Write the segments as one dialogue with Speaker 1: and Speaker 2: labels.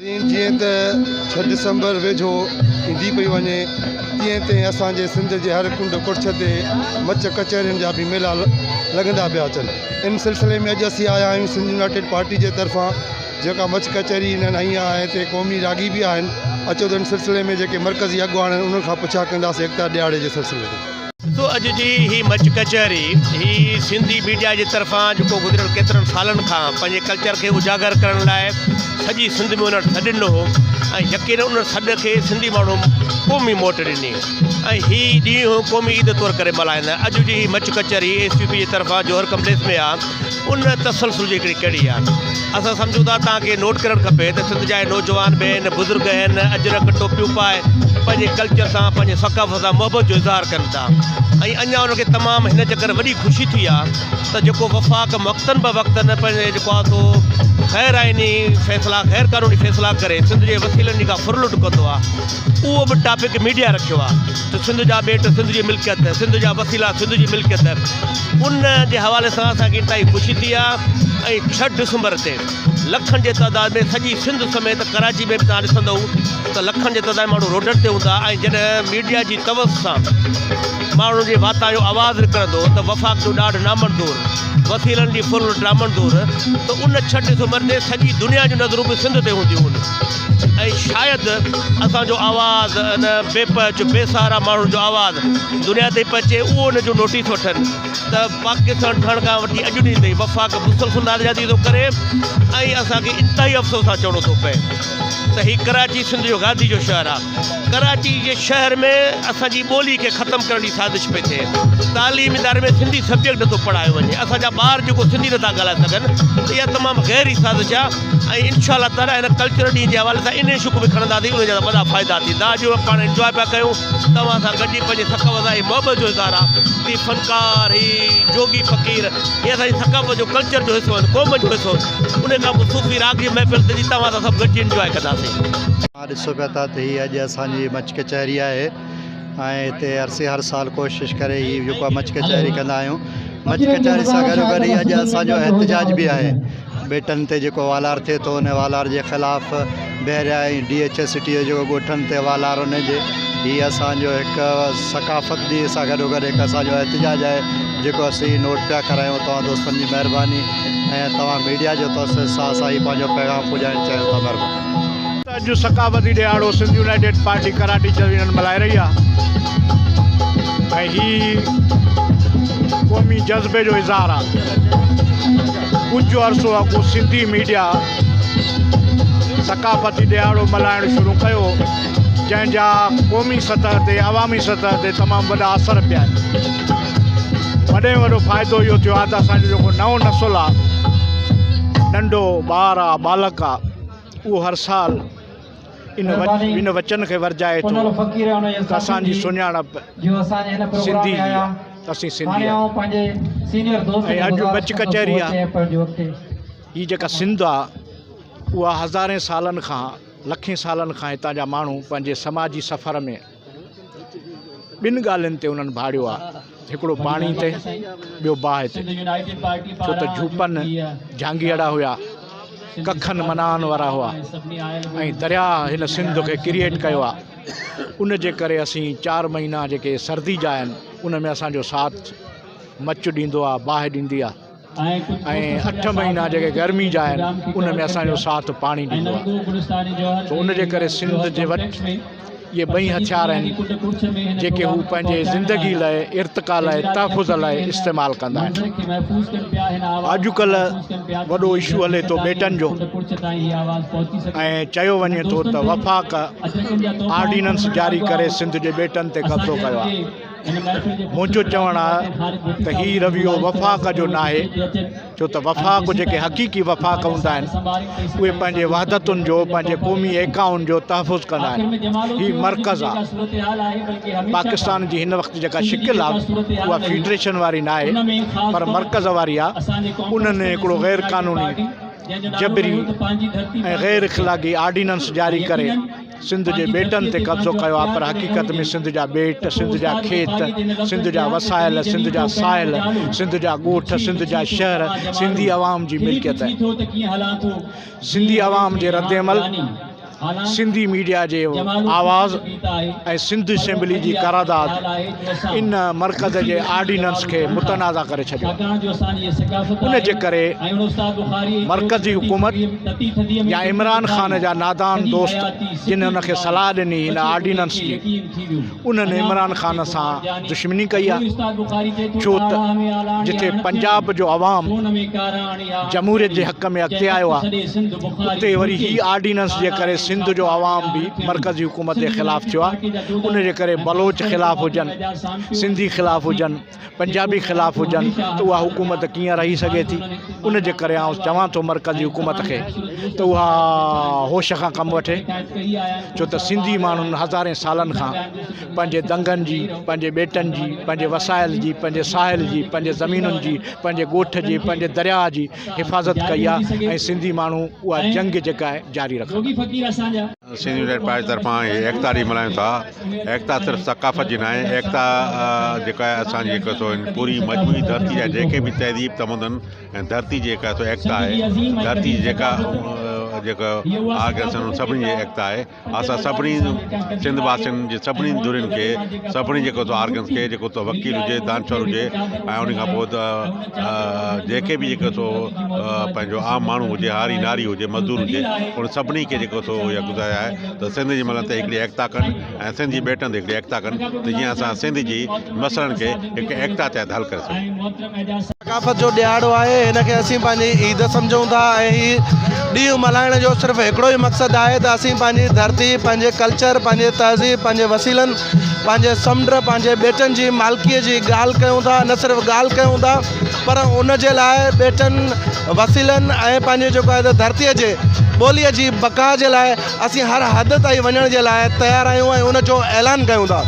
Speaker 1: جيئن ته ڇهه ڊسمبر ويجهو ايندي پئي وڃي تيئن تيئن اسان جي سنڌ جي هر ڪنڊ ڪڙڇ تي مچ ڪچهرين جا به ميلا لڳندا پيا اچن. ان سلسلي ۾ اڄ اسين آيا آهيون سنڌ يونائيٽيڊ پارٽي جي طرفان جيڪا مچ ڪچهري انهن هنئي آهي ۽ تي قومي راڳي به آهن. اچو ته ان سلسلي ۾ جيڪي مرڪزي اڳواڻ آهن انهن کان پڇا ڪنداسين ايڪتا ڏهاڙي جي سلسلي ۾. سو اڄ جي هي
Speaker 2: مچ ڪچهري هي سنڌي ميڊيا جي طرفان جيڪو گذريل ڪيترن سالن کان پنهنجي ڪلچر کي اجاگر ڪرڻ لاء سڄي سنڌ ۾ انهن سڏ ڏنو هو ۽ يقينن انهن سڏ کي سنڌي ماڻهو قومي موٽ ڏني ۽ هي ڏينهن قومي عيد طور ڪري ملهائيندا آهن اڄ جي هي مچ ڪچهري اي سي پي جي طرفان جوهر ڪمپليڪس ۾ آ ان تسلسل جي هڪڙي ڪڙي آهي. اسان سمجهون ٿا توهان کي نوٽ ڪرڻ کپي ته سنڌ جا هي نوجوان به هن بزرگ هن اجرڪ ٽوپيون پائي پنهنجي ڪلچر سان پنهنجي ثقافت سان محبت جو اظهار ڪن ٿا ۽ اڃان انهن کي تمام هن چڪر وڏي خوشي ٿي آهي ته جيڪو وفاق وقتن به وقتن پنهنجي جيڪو آهي سو غير آئيني فيصلا غير قانوني فيصلا ڪري سنڌ جي وسيلن جي ڪا ڦر لٽ ڪندو آهي اهو به ٽاپڪ ميڊيا رکيو آهي ته سنڌ جا ٻيٽ سنڌ جي ملڪيت سنڌ جا وسيلا سنڌ جي ملڪيت ان جي حوالي سان اسان کي انتهائي خوشي ٿي آهي ۽ ڇهه ڊسمبر تي لکن جي تعداد ۾ سڄي سنڌ سميت ڪراچي ۾ به توهان ڏسندو ته لکن جي تعداد ۾ ماڻهو روڊن تي هوندا ۽ جڏهن ميڊيا جي توس سان ماڻهن جي واتان اهو آواز نڪرندو ته وفاق جو ڏاڍ نامنظور، وسيلن جي ڦرلٽ نامنظور ته ان ڇهه ڊسمبر تي سڄي دنيا جون نظرون به سنڌ تي هونديون هن. ۽ شايد اسان جو آواز ان بي پهچ بي سهارا ماڻهن جو آواز دنيا تائين پهچي اهو ان جو نوٽيس وٺن ته پاڪستان ٺهڻ کان وٺي اڄ ڏينهن تائين وفاق مسلسل ناريادي ٿو ڪري ۽ اسان کي انتهائي افسوس سان چوڻو ٿو پئي ته هي ڪراچي سنڌ جو گاندي جو شهر آهي ڪراچي جي شهر ۾ اسان جي ٻولي کي ختم ڪرڻ جي سازش پئي ٿئي تعليم اداري ۾ سنڌي سبجيڪٽ نٿو پڙهايو وڃي اسان جا ٻار جيڪو سنڌي نٿا ڳالهائي سگهن اها تمام گهري سازش آهي ۽ انشاء الله تعالي هن ڪلچرل ڏينهن جي حوالي سان انهن شوق به کڻنداسين ان جا ته وڏا فائدا ٿيندا اڄ اهو پاڻ انجواء پيا ڪيون توهان سان گڏجي پنهنجي ثقافت ۽ محبت جو اظهار آهي هي فنڪار هي جوڳي فقير هي اسانجي ثقافت جو ڪلچر جو حصو آهن قوم جو حصو آهن ان کان پوء صوفي راڳ جي محفل ٿيندي توهان سان سڀ گڏجي انجواء ڪنداسين. اوهان ڏسو پيا
Speaker 3: ٿا ته هي اڄ اسانجي مچ ڪچهري آهي. ۽ هتي عرصي هر سال ڪوشش ڪري هي جيڪو آهي مچ ڪچهري ڪندا آهيون مچ ڪچهري سان گڏو گڏ هي اڄ اسان جو احتجاج به آهي ٻيٽن تي جيڪو والار ٿئي ٿو ان والار جي خلاف Bahria ۽ D H A city جو جيڪو ڳوٺن تي والار ان جي هي اسان جو هڪ ثقافت جي سان گڏو گڏ هڪ اسان جو احتجاج آهي جيڪو اسين نوٽ پيا ڪرايون توهان دوستن جي مهرباني ۽ توهان ميڊيا جو توسط سان اسان هي پنهنجو پيغام پڄائڻ چاهيون ٿا مهرباني اڄ
Speaker 4: ثقافتي ڏهاڙو سنڌ يونائيٽيڊ پارٽي ڪراٽي چيو يونين ملهائي رهي آهي ۽ هي قومي جذبي جو اظهار آهي ڪجهه عرصو اڳ سنڌي ميڊيا ثقافتي ڏهاڙو ملهائڻ شروع ڪيو جنهن جا قومي سطح تي عوامي سطح تي تمام وڏا اثر پيا آهن وڏي وڏو فائدو اهو ٿيو آهي ته اسان جو جيڪو نئون نسل آهي ننڍو ٻار آهي ٻالڪ آهي اهو هر سال ان وچن کي ورجائي ٿو ته اسان جي سڃاڻپ سنڌي جي آهي ته اسين سنڌي آهيون ۽ اڄ بچ ڪچهري آهي هي جيڪا سنڌ آهي اها هزارين سالن کان لکين سالن کان هتان جا ماڻهو پنهنجي سماجي سفر ۾ ٻن ڳالهين تي انهن ڀاڙيو آهي، هڪڙو پاڻي تي، ٻيو باهه تي. ڇو ته جهوپن جهانگيئڙا هيا، ڪکن مناهن وارا هئا ۽ درياهه هن سنڌ کي ڪريئيٽ ڪيو آهي. ان جي ڪري اسين چار مهينا جيڪي سردي جا آهن، ان ۾ اسان جو ساٿ مچ ڏيندو آهي، باهه ڏيندي آهي. ۽ اٺ مهينا جيڪي گرمي جا آهن ان ۾ اسان جو ساٿ پاڻي ڏيندو آهي سو ان جي ڪري سنڌ جي وٽ اهي ٻئي هٿيار آهن جيڪي هو پنهنجي زندگي لاء ارتقا لاء تحفظ لاء استعمال ڪندا آهن اڄ ڪلهه وڏو اشو هلي ٿو ٻيٽن جو ۽ چيو وڃي ٿو ته وفاق آرڊيننس جاري ڪري سنڌ جي ٻيٽن تي قبضو ڪيو آهي منهنجو چوڻ آ ته هي رويو وفاق جو ناهي ڇو ته وفاق جيڪي حقيقي وفاق هوندا آهن اهي پنهنجي وحدتن جو پنهنجي قومي ايڪائن جو تحفظ ڪندا آهن هي مرڪز آ پاڪستان جي هن وقت جيڪا شڪل آ اها فيڊريشن واري ناهي پر مرڪز واري آ انهن هڪڙو غير قانوني جبري ۽ غير اخلاقي آرڊيننس جاري ڪري سنڌ جي ٻيٽن تي قبضو ڪيو آهي پر حقيقت ۾ سنڌ جا ٻيٽ، سنڌ جا کيت، سنڌ جا وسائل، سنڌ جا ساحل، سنڌ جا ڳوٺ، سنڌ جا شهر سنڌي عوام جي ملڪيت آهن. سنڌي عوام جي ردعمل، سنڌي ميڊيا جي آواز ۽ سنڌ اسيمبلي جي قرارداد، ان مرڪز جي آرڊيننس کي متنازع ڪري ڇڏيو ان جي ڪري مرڪزي حڪومت يا عمران خان جا نادان دوست جن ان کي صلاح ڏني ان آرڊيننس جي انهن عمران خان سان دشمني ڪئي آهي ڇو ته جتي پنجاب جو عوام جمهوريت جي حق ۾ اڳتي آيو آهي اتي وري هي آرڊيننس جي ڪري سنڌ جو عوام به مرڪزي حڪومت جي خلاف ٿيو آهي ان جي ڪري بلوچ خلاف هجن سنڌي خلاف هجن پنجابي خلاف هجن ته اها حڪومت ڪيئن رهي سگهي ٿي ان جي ڪري آئون چوان ٿو مرڪزي حڪومت کي ته اها هوش کان ڪم وٺي ڇو ته سنڌي ماڻهن هزارين سالن کان پنهنجي دنگن جي، پنهنجي ٻيٽن جي، پنهنجي وسائل جي، پنهنجي ساحل جي، پنهنجي زمينن جي، پنهنجي ڳوٺ جي، پنهنجي درياء جي حفاظت ڪئي آهي ۽ سنڌي ماڻهو اها جنگ جيڪا آهي جاري رکندا. سنڌ يونائيٽيڊ پارٽي
Speaker 5: طرفان هي ايڪتا ڏينهن ملهايون ٿا. ايڪتا صرف ثقافت جي ناهي، ايڪتا جيڪا آهي اسان جي هڪ سو پوري مجموعي ڌرتي جا جيڪي به تهذيب تمدن ۽ ڌرتي جي هڪ ايڪتا آهي. ڌرتي جي جيڪا جيڪا آرگنائيزيشن سڀني جي ايڪتا آهي. اسان سڀني سنڌ واسين جي سڀني ڌرين کي سڀني جيڪو تو آرگنس کي جيڪو تو وڪيل هجي دانشور هجي ۽ ان کان پوء ته جيڪي به جيڪو تو پنهنجو عام ماڻهو هجي هاري ناري هجي مزدور هجي ان سڀني کي جيڪو تو اها گذاري آهي ته سنڌ جي ملن تي هڪڙي ايڪتا ڪن ۽ سنڌ جي ٻيٽن تي هڪڙي ايڪتا ڪن ته جيئن اسان سنڌ جي مسئلن کي هڪ ايڪتا تحت حل ڪري سگهون ثقافت جو ڏهاڙو
Speaker 6: آهي هن کي اسين پنهنجي عيد سمجهون ٿا ۽ هي ڏينهن ملهائڻ جو صرف هڪڙو ئي مقصد آهي ته اسين پنهنجي ڌرتي پنهنجي ڪلچر پنهنجي تهذيب پنهنجي وسيلن پنهنجي سمنڊ پنهنجي ٻيٽن جي مالڪي جي ڳالهه ڪيون ٿا نه صرف ڳالهه ڪيون ٿا پر ان جي لاء ٻيٽن وسيلن ۽ پنهنجي جيڪو آهي ته ڌرتي جي ٻولي جي بقا جي لاء اسين هر حد تائين وڃڻ جي لاء تيار آهيون ۽ ان جو اعلان ڪيون ٿا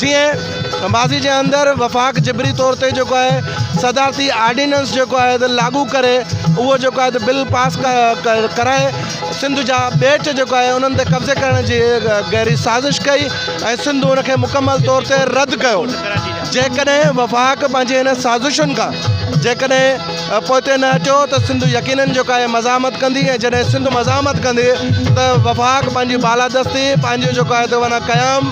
Speaker 6: جيئن ماضي جي اندر وفاق جبري طور تي جيڪو آهي صدارتي آرڊيننس جيڪو آهي ته لاڳو ڪري اهو جيڪو آهي ته بل پاس ڪرائي سنڌ جا ٻيٽ جيڪو آهي انهن تي قبضي ڪرڻ جي گهري سازش ڪئي ۽ سنڌ ان کي مڪمل طور تي رد ڪيو جيڪڏهن وفاق پنهنجي هن سازشن کان جيڪڏهن پوئتي نه هٽيو ته سنڌ يقينن جيڪو آهي مزاحمت ڪندي ۽ جڏهن سنڌ مزاحمت ڪندي ته وفاق پنهنجي بالادستي پنهنجو جيڪو آهي ته ونا قيام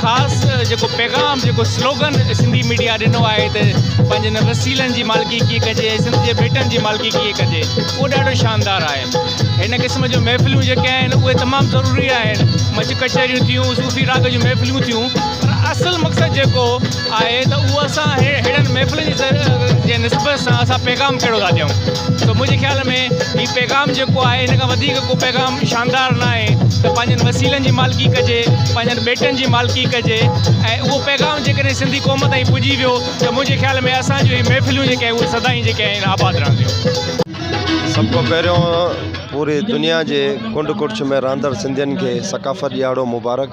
Speaker 7: خاص جيڪو پيغام جيڪو سلوگن سنڌي ميڊيا ڏنو آهي ته پنهنجي هن وسيلن جي مالڪي ڪيئن ڪجي ۽ سنڌ جي ٻيٽن جي مالڪي ڪيئن ڪجي اهو ڏاڍو شاندار آهي هن قسم جون محفلون جيڪي آهن اهي تمام ضروري آهن مچ ڪچهريون ٿيون صوفي راڳ جون محفلون ٿيون پر اصل مقصد جيڪو آهي ته اهو اسان ههڙن محفلن جي جي نسبت سان اسان پيغام ڪهڙو ٿا ڏيون ته منهنجي خيال ۾ هي پيغام جيڪو آهي هن کان وڌيڪ ڪو پيغام شاندار ناهي ته پنهنجن وسيلن جي مالڪي ڪجي، پنهنجن ٻيٽن جي مالڪي ڪجي ۽ اهو پيغام جيڪڏهن سنڌي قوم تائين پڄي ويو ته منهنجي خيال ۾ اسان جون هي محفلون جيڪي آهن اهي سدائين جيڪي آهن آباد رهنديون. سڀ
Speaker 8: کان پهريون پوري دنيا جي ڪنڊ ڪڙڇ ۾ رهندڙ سنڌين کي ثقافت ڏيهاڙو مبارڪ.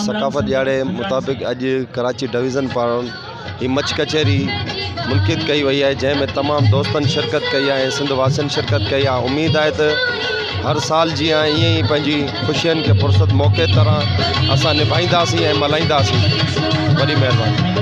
Speaker 8: ثقافت ڏيهاڙي مطابق اڄ ڪراچي ڊويزن پاران هي مچ ڪچهري منقد ڪئي وئي آهي جنهن ۾ تمام دوستن شرڪت ڪئي آهي سنڌ واسين شرڪت ڪئي آهي اميد آهي ته هر سال جي آهي ائين ئي پنهنجي خوشين کي فرصت موقعي طرح اسان نڀائينداسين ۽ ملهائينداسين وڏي مهرباني